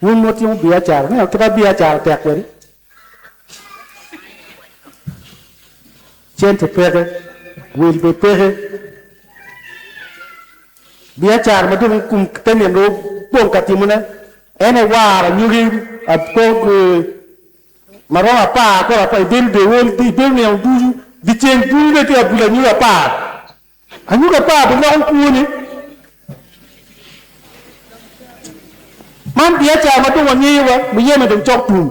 Wun ma wutimo biacara, ineno kite biacara tek kwede. Cente peke, wil bene peke. Biacara ma dong kum te nino dong wupong ka timone en aye waro anyogi apo ma romo apar kore apar, ibedo dewol, ibedo nino ducu, dyeceng ducu dong itye ka bulo anyogi apar. Anyuka apar biloko kwone. Man biacara ma dong wangeyo wa, muyeme dong cok tum.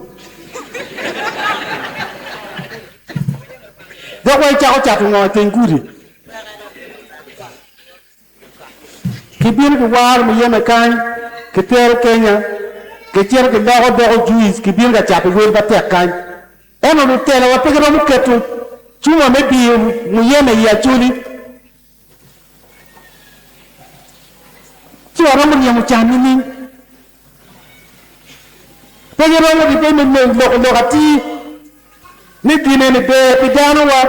Dok wa icako cato ngo iteng gudi? Kibino kiwaro muyeme kany, kitero Kenya, kicito kiloko doko juice, kibino ka cato wel matek kany. Ento lutelowa pe giromo keto cuma me diyo muyeme i acholi. Ci waromo ryemo can nining? Pe giromo dipe me loko lok atir ni gin eni ber pi danowa.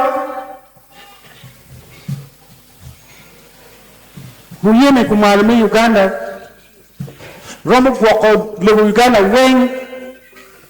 Muyeme kumalo me Uganda romo gwoko lobo Uganda weng.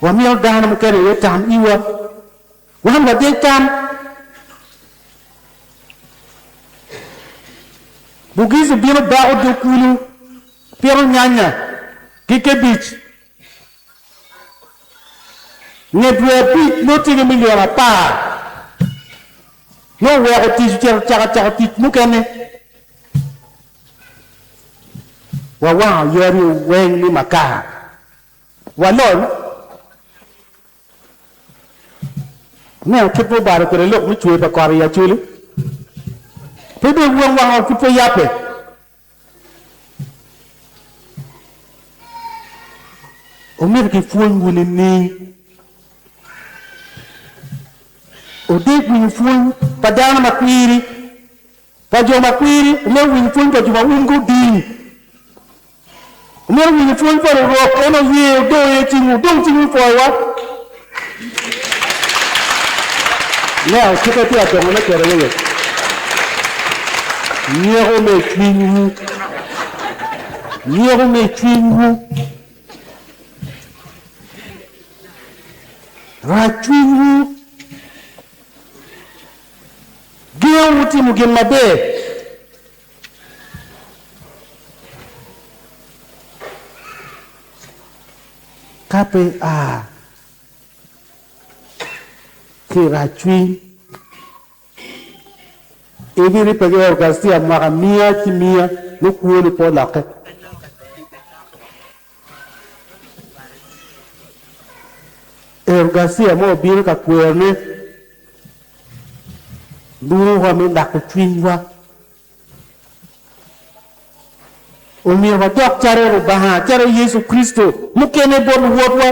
Wamiyo dano mukene aye tam iwa. Wan wadeg tam. Bugizi bino bako dog kulu, pito nyanya ki kebic. Nge dwe abic nongo tye ki milion apar. Nongo oweko tic ocito caka cako tic mukene. Wawango yadi weng ni makar. Walony neno kit ma obalo kwede lok me cwer pa kot i Acholi. Pe dong wang wanga pud pe yabbe. Omyero kipwony wu nining? Odeg winyo pwony pa dano ma kwiri. Pa jo ma kwiri, omyero owiny pwony pa jo ma umgi oding. Omyero owiny pwony pa Rurok, en oye, odoyo ye cingwu, odong cingwu i pwoyowa. Now, cik atir adongo me kero aye wek nyeko me cwinywu, nyeko me cwinywu, rac cwinywu, Gengo wu timo gin maber. Ka pe ia ki i racwiny, ibiribbe ki Eucharistia mwaka miya ki miya, me kwo ni pe olokke. Ero Garcia ma obino ka kwerone lurowa me lako cwinywa. Omyero wadok calo Lubanga, calo Yecu Kricito mukene bot luwotwa.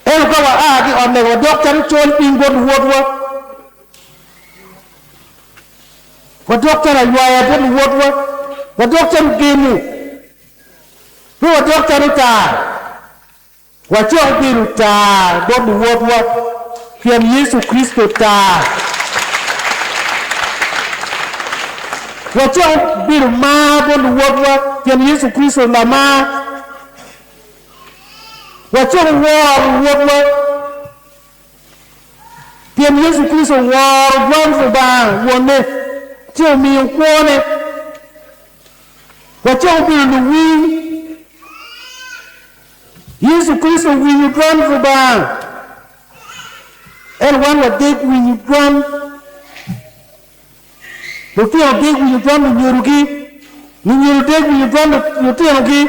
Ento ka waa ki i ot lega, wadok calo col piny bot luwotwa. Wadok calo aywaya bot luwotwa. Wadok calo ogemu. Pe wadok calo taa. Wacok bedo taa bot luwotwa, pien Yecu Kricito taa. Wacok bedo mar bot luwotwa, pien Yecu Kricito lamar. Wacako woro Rwotwa pien Yecu Kricito oworo dwan Lubanga Wonne ci omiyo kwone. Wacako bedo luwiny. Yecu Kricito owinyo dwan Lubanga, ento wan wadek winyo dwan lutino, dek winyo dwan lunyodogi, lunyodo dek winyo dwan lutinogi.